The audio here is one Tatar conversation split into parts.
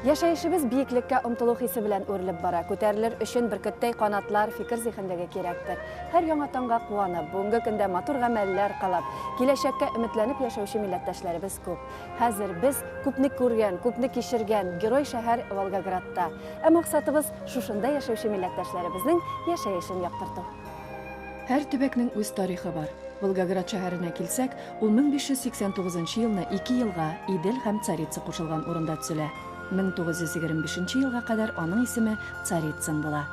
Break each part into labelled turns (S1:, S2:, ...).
S1: Яшәешебез биеклеккә омтылу хисе белән үрелеп бара. Күтәрелер өчен бөркеттәй канатлар, фикер зиһенлеге кирәктер. Һәр яңа таңга куанып, бүгенге көндә матур гамәлләр кылып, киләчәккә өметләнеп яшәүче милләттәшләребез күп. Хәзер без күпне күргән, күпне кичергән герой шәһәр Волгоградта. Ә максатыбыз, шушында яшәүче милләттәшләребезнең яшәешен яктырту. Һәр төбәкнең үз тарихы бар. Волгоград шәһәренә килсәк, ул 1589 нчы елны ике елга, Идел һәм Царица кушылган урында төзелә. 1925 нче елга кадәр аның исеме Царицын була.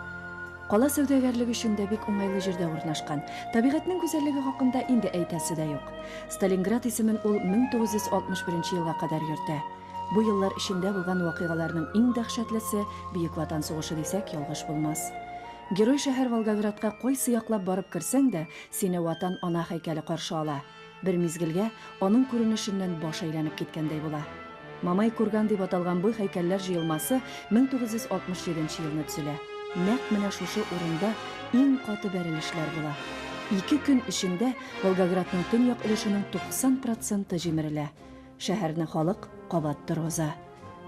S1: Кала сәүдәгәрлек өчен дә бик уңайлы җирдә урнашкан. Табигатьнең гүзәллеге хакында инде әйтәсе дә юк. Сталинград исемен ул 1961 нче елга кадәр йөртә. Бу еллар эчендә булган вакыйгаларның иң дәһшәтлесе Бөек Ватан сугышы дисәк, ялгыш булмас. Герой шәһәр Волгоградка кайсы яклап барып керсәң дә, сине Ватан ана һәйкәле каршы ала. Бер мизгелгә аның күренешеннән баш әйләнеп киткәндәй була. Мамай курган дип аталган бу һәйкәлләр җыелмасы 1967 нче елны төзелә. Нәкъ менә шушы урында иң каты бәрелешләр була. Ике көн эчендә Волгоградның төньяк өлешенең 90 проценты җимерелә. Шәһәрне халык кабат торгыза.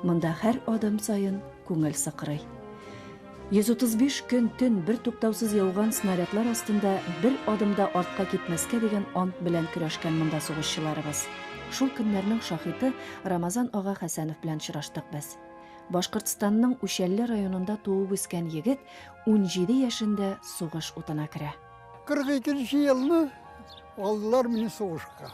S1: Монда һәр адым саен күңел сыкрый. 135 көн төн бер туктаусыз яуган снарядлар астында бер адым да артка китмәскә дигән ант белән көрәшкән монда сугышчыларыбыз. Шул көннәрнең шаһиты Рамазан ага Хәсәнов белән очраштык без. Башкортстанның Учәлле районында туып үскән егет 17 яшендә сугыш утына керә. 42 нче
S2: елны алдылар мине сугышка.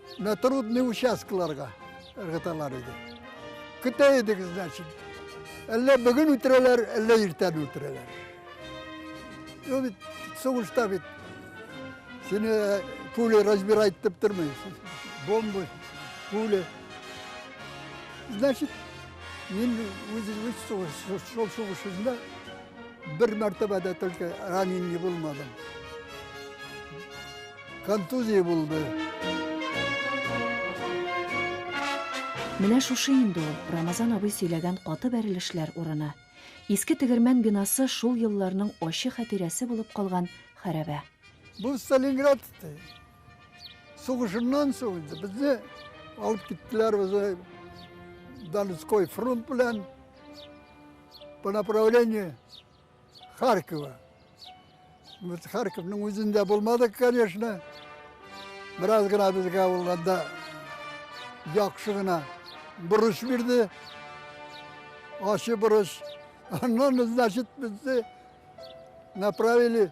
S2: На трудный участкаларга ыргыталар иде. Көтә идек, значит. Әллә бүген үтерәләр, әллә иртән үтерәләр. Ну, бит, сугышта бит. Сине э, пули разбирать дип тормый. Бомбы, пули. Значит, мин үз шул сугышында бер мәртәбә дә только ранен не булмадым. Контузия булды.
S1: Менә шушы инде ул, Рамазан абый сөйләгән каты бәрелешләр урыны. Иске тегермән бинасы шул елларның ачы хәтирәсе булып калган хәрәбә. Бу
S2: Сталинград сугышыннан соң инде безне алып киттеләр безне Донской фронт белән по направлению Харькова. Без Харьковның үзендә булмадык, конечно. Бераз гына безгә ул анда яхшы гына бурыч бирде. Ачы бурыч. Аннан, значит, безне направили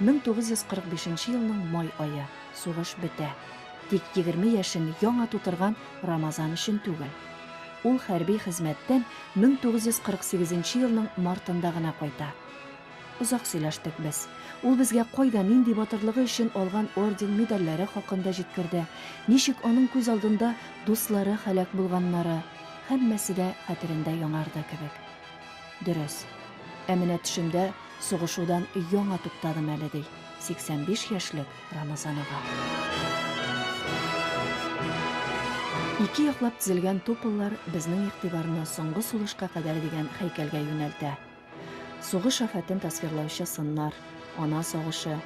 S1: 1945 нче елның май ае, сугыш бетә. Тик егерме яшен яңа тутырган Рамазан өчен түгел. Ул хәрби хезмәттән 1948 нче елның мартында гына кайта. Озак сөйләштек без. Ул безгә кайда, нинди батырлыгы өчен алган орден-медальләре хакында җиткерде, ничек аның күз алдында дуслары һәлак булганнары, һәммәсе дә хәтерендә яңарды кебек. Дөрес. Ә менә төшемдә сугышудан яңа туктадым әле, ди 85 яшьлек Рамазан ага. Ике яклап тезелгән топыллар безнең игътибарны соңгы сулышка кадәр дигән хәйкәлгә юнәлтә. Сугыш афәтен тасвирлаучы сыннар, ана сагышы,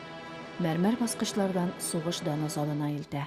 S1: мәрмәр баскычлардан сугыш даны залына илтә.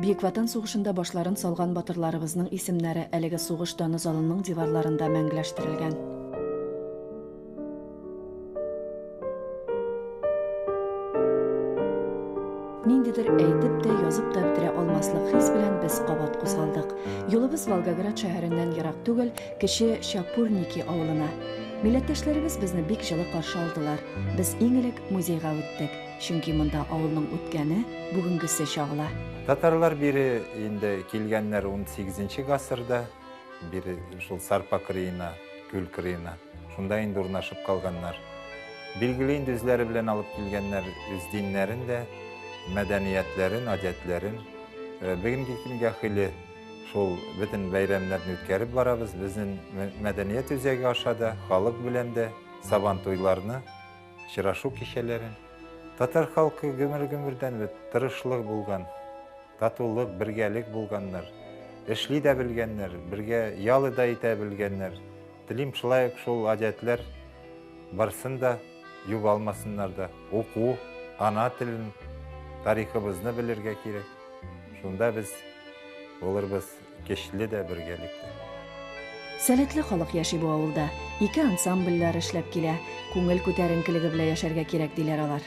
S1: Бөек Ватан сугышында башларын салган батырларыбызның исемнәре әлеге сугыш даны залының диварларында мәңгеләштерелгән. Ниндидер әйтеп тә, язып та бетерә алмаслык хис белән без кабат кузгалдык. Юлыбыз Волгоград шәһәреннән ерак түгел, кече Чапурники авылына. Милләттәшләребез безне бик җылы каршы алдылар. Без иң элек музейга үттек, чөнки монда авылның үткәне, бүгенгесе чагыла. Татарлар бире
S3: инде килгәннәр 18 нче гасырда, бире шул Сарпа кырыена, күл кырыена. Шунда инде урнашып калганнар. Билгеле инде үзләре белән алып килгәннәр үз диннәрен дә, мәдәниятләрен, гадәтләрен. Э, бүгенге көнгә хәйле шул бөтен бәйрәмнәрне үткәреп барабыз. Безнең мәдәният үзәге аша да, халык белән дә сабан туйларны, очрашу кичәләрен. Татар халкы гөмер-гөмердән бит тырышлык булган, татулык, бергәлек булганнар. Эшли дә белгәннәр, бергә ялы да итә белгәннәр. Телим шулай ук шул гадәтләр барсын да юып алмасыннар да. Уку, ана телен, тарихыбызны белергә кирәк. Шунда без булырбыз көчле дә, бергәлек тә.
S1: Сәләтле халык яши бу авылда. Ике ансамбльләр эшләп килә. Күңел күтәренкелеге белән яшәргә кирәк, диләр алар.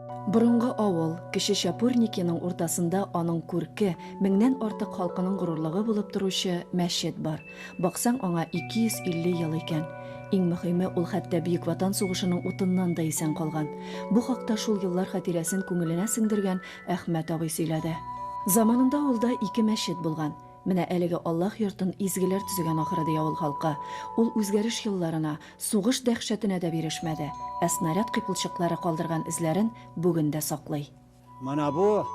S3: Борынгы
S1: авыл, Кече Чапурникиның уртасында аның күрке, меңнән артык халкының горурлыгы булып торучы мәчет бар. Баксаң, аңа 250 ел икән. Иң мөһиме, ул хәтта Бөек Ватан сугышының утыннан да исән калган. Бу хакта шул еллар хатирәсен күңеленә сеңдергән Әхмәт абый сөйләде. Заманында авылда ике мәчет булган. Менә әлеге Аллаһ йортын изгеләр төзегән ахыры, ди авыл халкы. Ул үзгәреш елларына, Сугыш дәһшәтенә дә бирешмәде, ә снаряд кыйпылчыклары калдырган эзләрен бүген дә саклый. Менә бу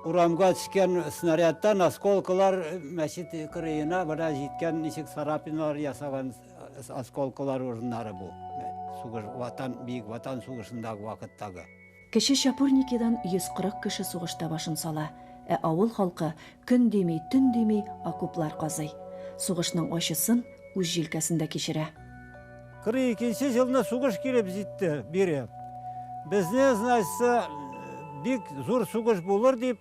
S4: урамга төшкән снарядтан осколкалар мәчет кырыена менә җиткән, ничек царапиналар ясаган осколкалар урыннары бу. Сугыш, Ватан, Бөек Ватан сугышындагы вакыттагы. Кече
S1: Чапурникидан 140 кеше сугышта башын сала, ә авыл халкы көн дими, төн дими окоплар казый, сугышның ачысын үз җилкәсендә кичерә. 42
S4: нче җылны сугыш килеп җитте, бире. Безне, значится, бик зур сугыш булыр дип,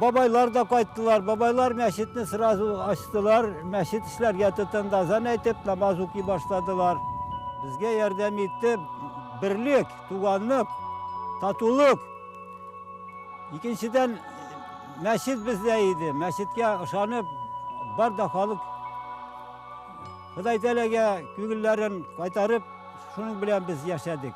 S4: Бабайлар да кайттылар. Бабайлар мәчетне сразу ачтылар. Мәчет эшләргә тотынды. Азан әйтеп, намаз укый башладылар. Безгә ярдәм итте. Берлек, туганлык, татулык. Икенчедән, мәчет бездә иде. Мәчеткә ышанып, бар да халык Ходай Тәләгә күңелләрен кайтарып, шуның белән без яшәдек.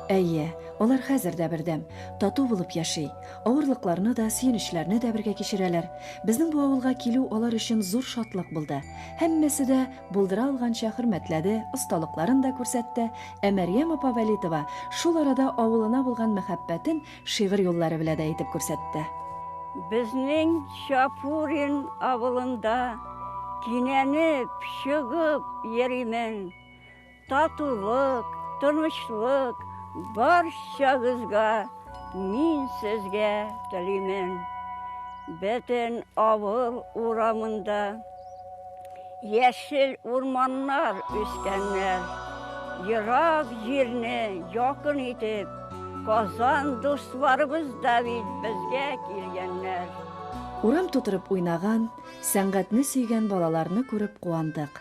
S4: Әйе,
S1: алар хәзер дә бердәм, тату булып яши. Авырлыкларны да, сөенечләрне дә бергә кичерәләр. Безнең бу авылга килү алар өчен зур шатлык булды. Һәммәсе дә булдыра алганча хөрмәтләде, осталыкларын да күрсәтте, ә Мәрьям апа Вәлитова шул арада авылына булган мәхәббәтен шигырь юллары белә дә әйтеп күрсәтте. Безнең
S5: Чапурин авылында кинәнеп, чыгып йөримен. Татулык, тынычлык барчагызга мин сезгә телимен. Бөтен авыл урамында яшел урманнар үскәннәр. Ерак җирне якын итеп, Казан дусларыбыз да бит безгә килгәннәр. Урам
S1: тутырып уйнаган, сәнгатьне сөйгән балаларны күреп куандык.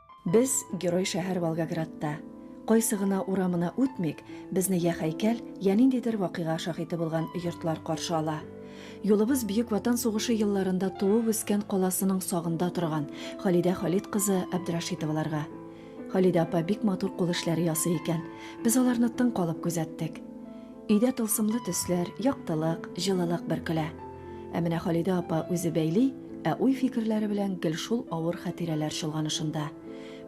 S1: Без, герой шәһәр Волгоградта. Кайсы гына урамына үтмик, безне йә хәйкәл, йә ниндидер вакыйга шаһиты булган йортлар каршы ала. Юлыбыз Бөек Ватан сугышы елларында туып-үскән каласының сагында торган Халидә Халит кызы Абдрашитоваларга. Халидә апа бик матур кул эшләре ясый икән. Без аларны тын калып күзәттек. Өйдә тылсымлы төсләр, яктылык, җылылык бөркелә. Ә менә Халидә апа үзе бәйли, ә уй-фикерләре белән гел шул авыр хатирәләр чолганышында.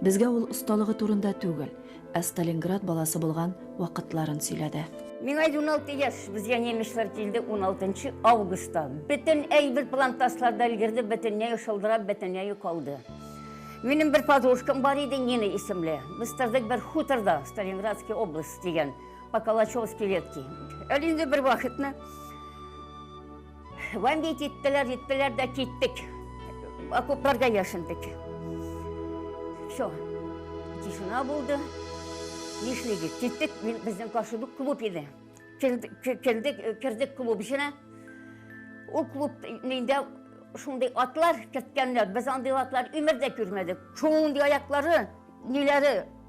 S1: Безгә ул осталыгы турында түгел, ә Сталинград баласы булган вакытларын сөйләде. Миңа 16
S5: яшь, безгә немецлар килде 16 августта. Бөтен әйбер плантасларда өлгерде, бөтенләй шылдырап, бөтенләй калды. Минем бер подружкам бар иде, Нина исемле. Без тордык бер хуторда, Сталинградский область дигән. По Калачевской ветке. Әле инде бер вакытны Вамбей киттеләр, җиттеләр дә киттек. Окопларга яшендек. Все. Тишина булды. Нишлегез? Киттек, безнең каршыда клуб иде. Кердек, кердек клуб эченә. Ул клуб нинди шундый атлар керткәннәр. Без андый атлар өмердә күрмәдек. Шундый аяклары, ниләре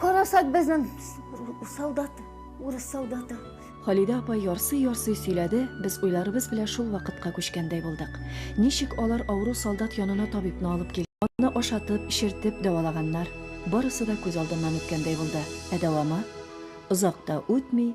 S5: Карасак безнең солдат, урыс солдаты. Халидә апа
S1: ярсый-ярсый сөйләде, без уйларыбыз белән шул вакытка күчкәндәй булдык. Ничек алар авыру солдат янына табибны алып кил, аны ашатып, эчертеп дәвалаганнар. Барысы да күз алдыннан үткәндәй булды. Ә дәвамы? Озак та үтми,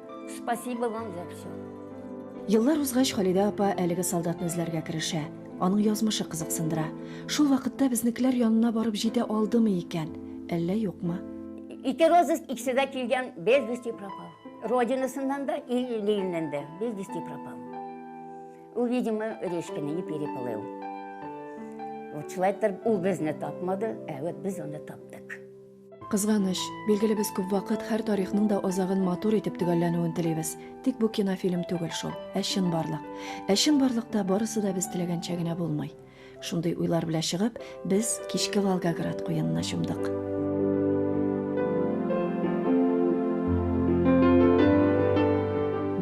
S5: Спасибо вам за все. Еллар
S1: узгач, Халидә апа әлеге солдатны эзләргә керешә. Аның язмышы кызыксындыра. Шул вакытта безнекеләр янына барып җитә алдымы икән, әллә юкмы? Ике розыск
S5: икесе дә килгән, без вести пропал. Родинасыннан да, ил иленнән дә, без вести пропал. Ул, видимо, речка не переплыл. Вот шулай итеп, ул безне тапмады, ә вот без аны таптык.
S1: Кызганыч, билгеле без күп вакыт һәр тарихның да азагын матур итеп төгәлләнүен телибез. Тик бу кинофильм түгел шул, ә чынбарлык. Ә чынбарлыкта барысы да без теләгәнчә генә булмый. Шундый уйлар белә чыгып, без кичке Волгоград куенына чумдык.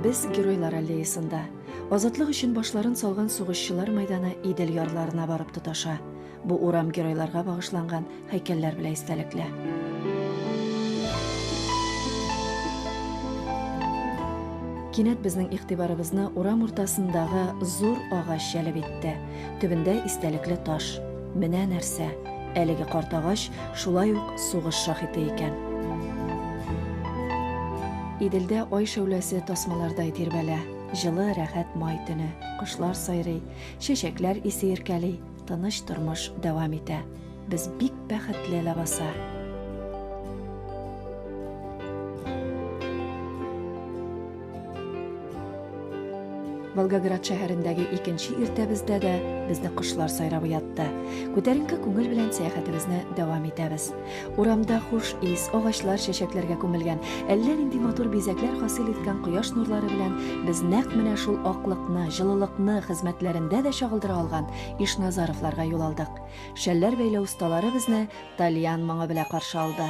S1: Без геройлар аллеясында. Азатлык өчен башларын салган сугышчылар мәйданы Идел ярларына барып тоташа. Бу урам геройларга багышланган һәйкәлләр белән истәлекле. Кинәт безнең игътибарыбызны урам уртасындагы зур агач җәлеп итте. Төбендә истәлекле таш. Менә нәрсә! Әлеге карт агач шулай ук сугыш шаһиты икән. Иделдә ай шәүләсе тасмалардай тирбәлә. Җылы, рәхәт май төне. Кошлар сайрый, чәчәкләр исе иркәли. тыныч тормыш дәвам итә. Без бик бәхетле ләбаса. Волгоград шәһәрендәге икенче иртәбездә дә безне кошлар сайравы ятты. Күтәренке күңел белән сәяхәтебезне дәвам итәбез. Урамда хуш ис, агачлар чәчәкләргә күмелгән, әллә нинди матур бизәкләр хасил иткән кояш нурлары белән без нәкъ менә шул аклыкны, җылылыкны хезмәтләрендә дә чагылдыра алган Ишназаровларга юл алдык. Шәлләр бәйләү осталары безне тальян моңы белән каршы алды.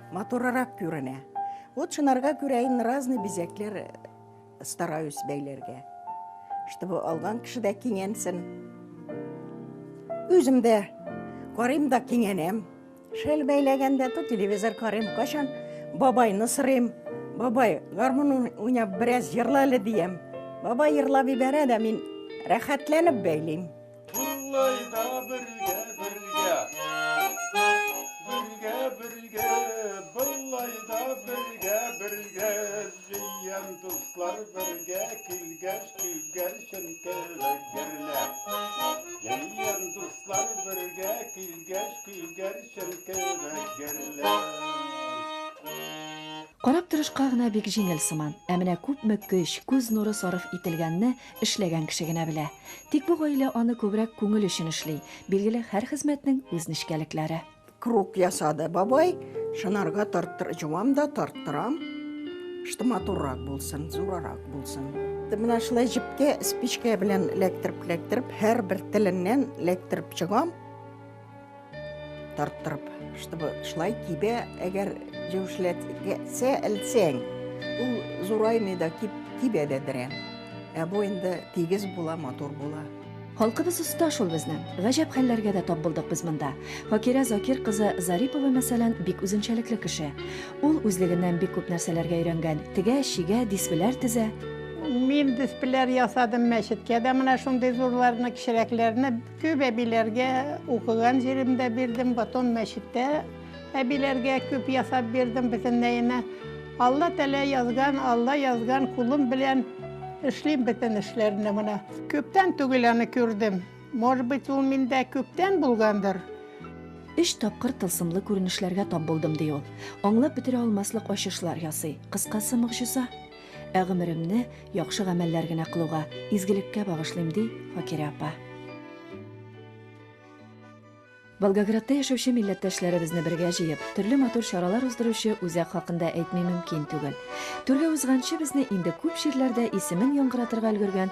S6: Матурырак күренә. Вот шынарга күрә инде разный бизәкләр э, стараюсь бәйләргә. Чтобы алган кеше дә кинәнсен. Үзем дә карыйм да кинәнәм. Шәл бәйләгәндә то телевизор карыйм, кашан бабайны сырыйм. Бабай, гармун уйнап бераз җырлале әле диям. Бабай җырлап ибәрә дә мин рәхәтләнеп бәйлим.
S1: Карап торышка гына бик җиңел сыман, ә менә күпме көч, күз нуры сарыф ителгәнне Эшләгән кеше генә белә. Тик бу гаилә аны күбрәк күңел өчен эшли. Билгеле, һәр хезмәтнең үз нечкәлекләре. Круг ясады
S6: бабай. Шынарга тарттыр, җуам да, тарттырам. Что матуррак булсын, зурарак булсын. Менә шулай җепкә, спичкә белән эләктереп-эләктереп, һәрбер теленнән эләктереп чыгам. Тарттырып, чтобы шулай кибә, әгәр җәүшләтсә, әлсәң, ул зураймый да кип, кибә дә берәм. Ә бу инде тигез була, матур була. Халкыбыз оста
S1: шул безнең. Гаҗәп хәлләргә дә тап булдык без монда. Факирә Закир кызы Зарипова, мәсәлән, бик үзенчәлекле кеше. Ул үзлегеннән бик күп нәрсәләргә өйрәнгән. Тегә, чигә, диспләр тезә. Мин
S7: диспләр ясадым мәчеткә дә, менә шундый зурларны, кечерәкләрне. Күп әбиләргә укыган җиремдә бирдем, потом мәчеттә әбиләргә күп ясап бирдем бөтенләенә. Алла тәлә язган, Алла язган кулым белән эшлим бөтен эшләрне менә. Күптән түгел аны күрдем. Может быть, ул миндә күптән булгандыр. Өч
S1: тапкыр тылсымлы күренешләргә тап булдым, ди ул. Аңлап бетерә алмаслык ачышлар ясый. Кыскасы, могҗиза. Ә гомеремне яхшы гамәлләр генә кылуга, изгелеккә багышлыйм, ди Факирә апа. Волгоградта яшәүче милләттәшләребезне бергә җыеп, төрле матур чаралар уздыручы үзәк хакында әйтми мөмкин түгел. Түргә узганчы безне инде күп җирләрдә исемен яңгыратырга өлгергән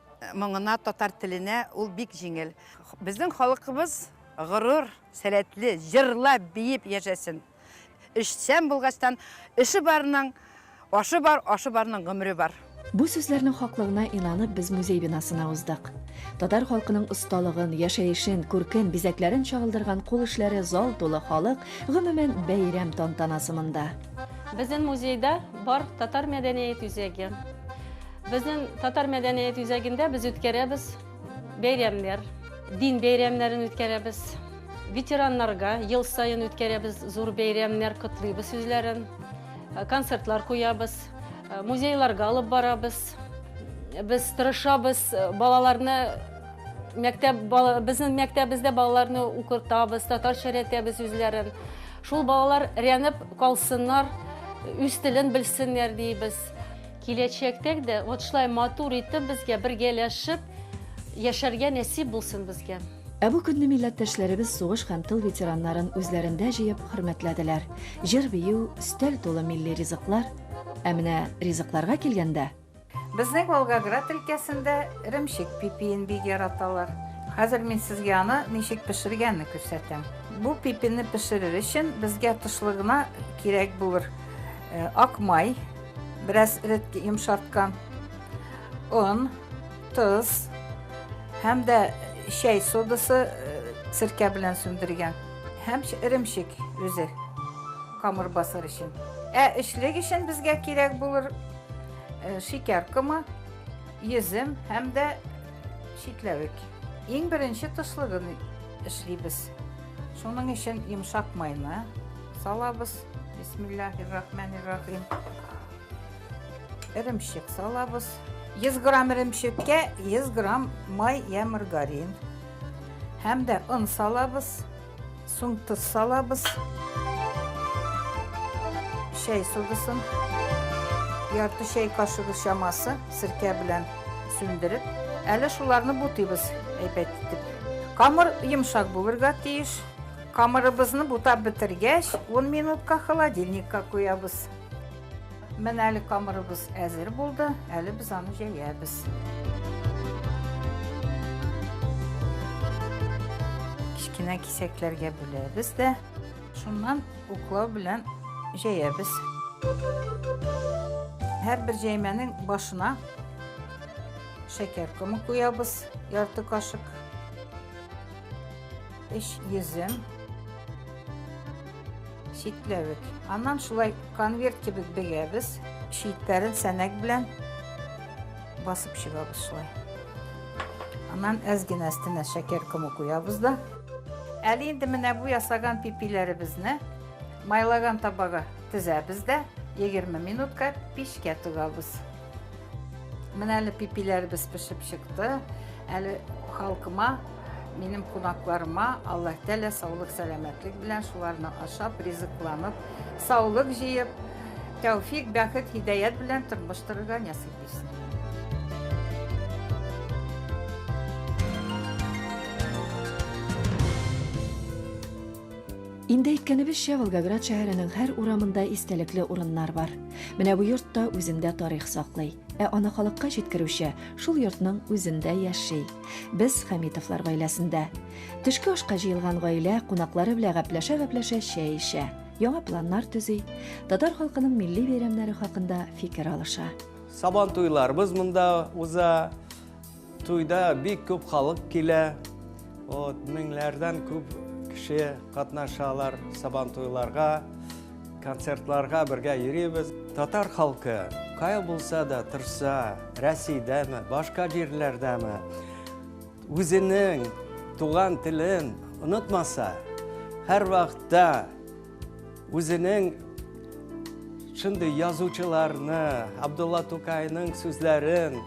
S8: Моңына, татар теленә ул бик җиңел. Безнең халыкыбыз горур, сәләтле, җырлап, биеп яшәсен. Эшчән булгачтан, эше барның ашы бар, ашы барның гомере бар. Бу сүзләрнең
S1: хаклыгына инанып без музей бинасына уздык. Татар халкының осталыгын, яшәешен, күркен, бизәкләрен чагылдырган кул эшләре, зал тулы халык, гомумән, бәйрәм тантанасы монда. Безнең
S9: музейда бар татар мәдәният үзәге. Безнең татар мәдәният үзәгендә без үткәрәбез бәйрәмнәр, дин бәйрәмнәрен үткәрәбез. Ветераннарга ел саен үткәрәбез зур бәйрәмнәр котлыйбыз сүзләрен. Э, концертлар куябыз, э, музейларга алып барабыз. Без тырышабыз э, балаларны мәктәп безнең мәктәбебездә балаларны укытабыз, татарча өйрәтәбез үзләрен. Шул балалар рәнеп калсыннар, үз телен белсеннәр дибез. Киләчәктәк дә вот шулай матур итеп безгә бергәләшеп яшәргә нәсип булсын безгә. Ә бу көнне
S1: милләттәшләребез сугыш һәм тыл ветераннарын үзләрендә җыеп хөрмәтләделәр. Җыр-бию, өстәл тулы милли ризыклар. Ә менә ризыкларга килгәндә. Безнең
S10: Волгоград өлкәсендә эремчек пипиен бик яраталар. Хәзер мин сезгә аны ничек пешергәнне күрсәтәм. Бу пипине пешерер өчен безгә тышлыгына кирәк булыр ак май, Бераз эретке йомшарткан он, тоз һәм дә чәй содасы э, серкә белән сүндергән һәм эремчек үзе камыр басыр өчен. Ә эчлек өчен безгә кирәк булыр э, шикәр комы, йөзем һәм дә читләвек. Иң беренче тослыгын эшлибез. Шуның өчен йомшак майны салабыз. Бисмиллахи рахмани рахим. Эремчек салабыз. 100 грамм эремчеккә 100 грамм май я маргарин. Һәм дә он салабыз. Соң тоз салабыз. Чәй содысын. Ярты чәй кашыгы чамасы сиркә белән сүндереп, әле шуларны бутыйбыз әйбәт итеп. Камыр йомшак булырга тиеш. Камырыбызны бутап бетергәч, 10 минутка холодильникка куябыз. Менә әле камырыбыз әзер булды, әле без аны җәябез. Кечкенә кисәкләргә бүләбез дә, шуннан уклау белән җәябез. Һәрбер җәймәнең башына шәкәр комы куябыз, ярты кашык. 3 йөзем, читләвек. Аннан шулай конверт кебек бегәбез. Читләрен сәнәк белән басып чыгабыз шулай. Аннан әз генә өстенә шәкәр комы куябыз да. Әле инде менә бу ясаган пипиләребезне майлаган табага тезәбез дә 20 минутка пешкә тыгабыз. Менә әле пипиләребез пешеп чыкты. Әле халкыма, минем кунакларыма Аллаһ Тәгалә саулык, сәламәтлек белән шуларны ашап, ризыкланып, саулык җыеп, тәүфик, бәхет, һидаят белән тормыш торырга нәсыйп итсен.
S1: Инде әйткәнебезчә, Волгоград шәһәренең һәр урамында истәлекле урыннар бар. Менә бу йорт та үзендә тарих саклый. Ә аны халыкка җиткерүче шул йортның үзендә яши. Без Хәмитовлар гаиләсендә. Төшке ашка җыелган гаилә кунаклары белән гәпләшә-гәпләшә чәй эчә, яңа планнар төзи, татар халкының милли бәйрәмнәре хакында фикер алыша. Сабан туйларыбыз
S11: монда уза. Туйда бик күп халык килә. Вот, меңләрдән күп кеше катнашалар сабан туйларга, концертларга бергә йөрибез. Татар халкы кая булса да тырса, Рәсәйдәме, башка җирләрдәме, үзенең туган телен онытмаса, һәрвакытта Үзенең шундый язучыларны, Абдулла Тукайның сүзләрен,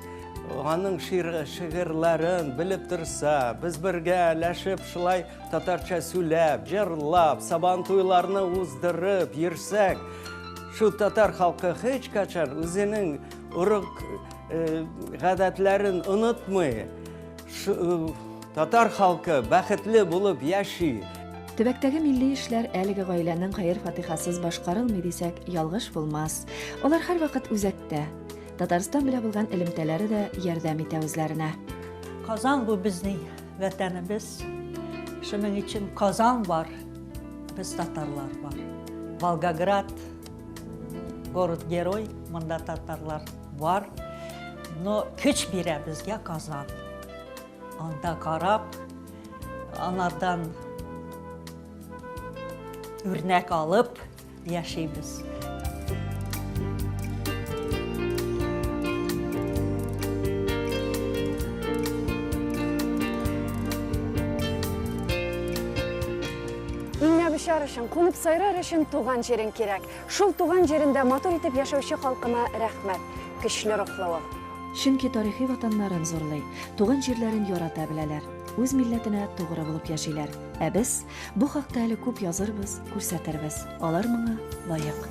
S11: аның шигырьләрен белеп торса, без бергә әләшеп, шулай татарча сүләп, җырлап, сабан туйларны уздырып йөрсәк, шу татар халкы һич качан үзенең урык гадәтләрен онытмый. Татар халкы бәхетле булып яши. Төбәктәге
S1: милли эшләр әлеге гаиләнең хәер-фатихасыз башкарылмый дисәк, ялгыш булмас. Алар һәрвакыт үзәктә. Татарстан белә булган элемтәләре дә ярдәм итә үзләренә. Казан бу
S12: безнең вәтәнебез. Шуның өчен Казан бар, без татарлар бар. Волгоград, город-герой, монда татарлар. Бар, но көч бирә безгә Казан. Анда карап, анардан үрнәк алып яшибез.
S1: Иңнәбишар өчен, кунып сайрар өчен туган җирең кирәк. Шул туган җирендә матур итеп яшәүче халкына рәхмәт, көчле рухлылык. Чөнки тарихи ватаннарын зурлый, туган җирләрен ярата беләләр, үз милләтенә тугры булып яшиләр. Ә без бу хакта әле күп язырбыз, күрсәтербез. Алар моңа лаек.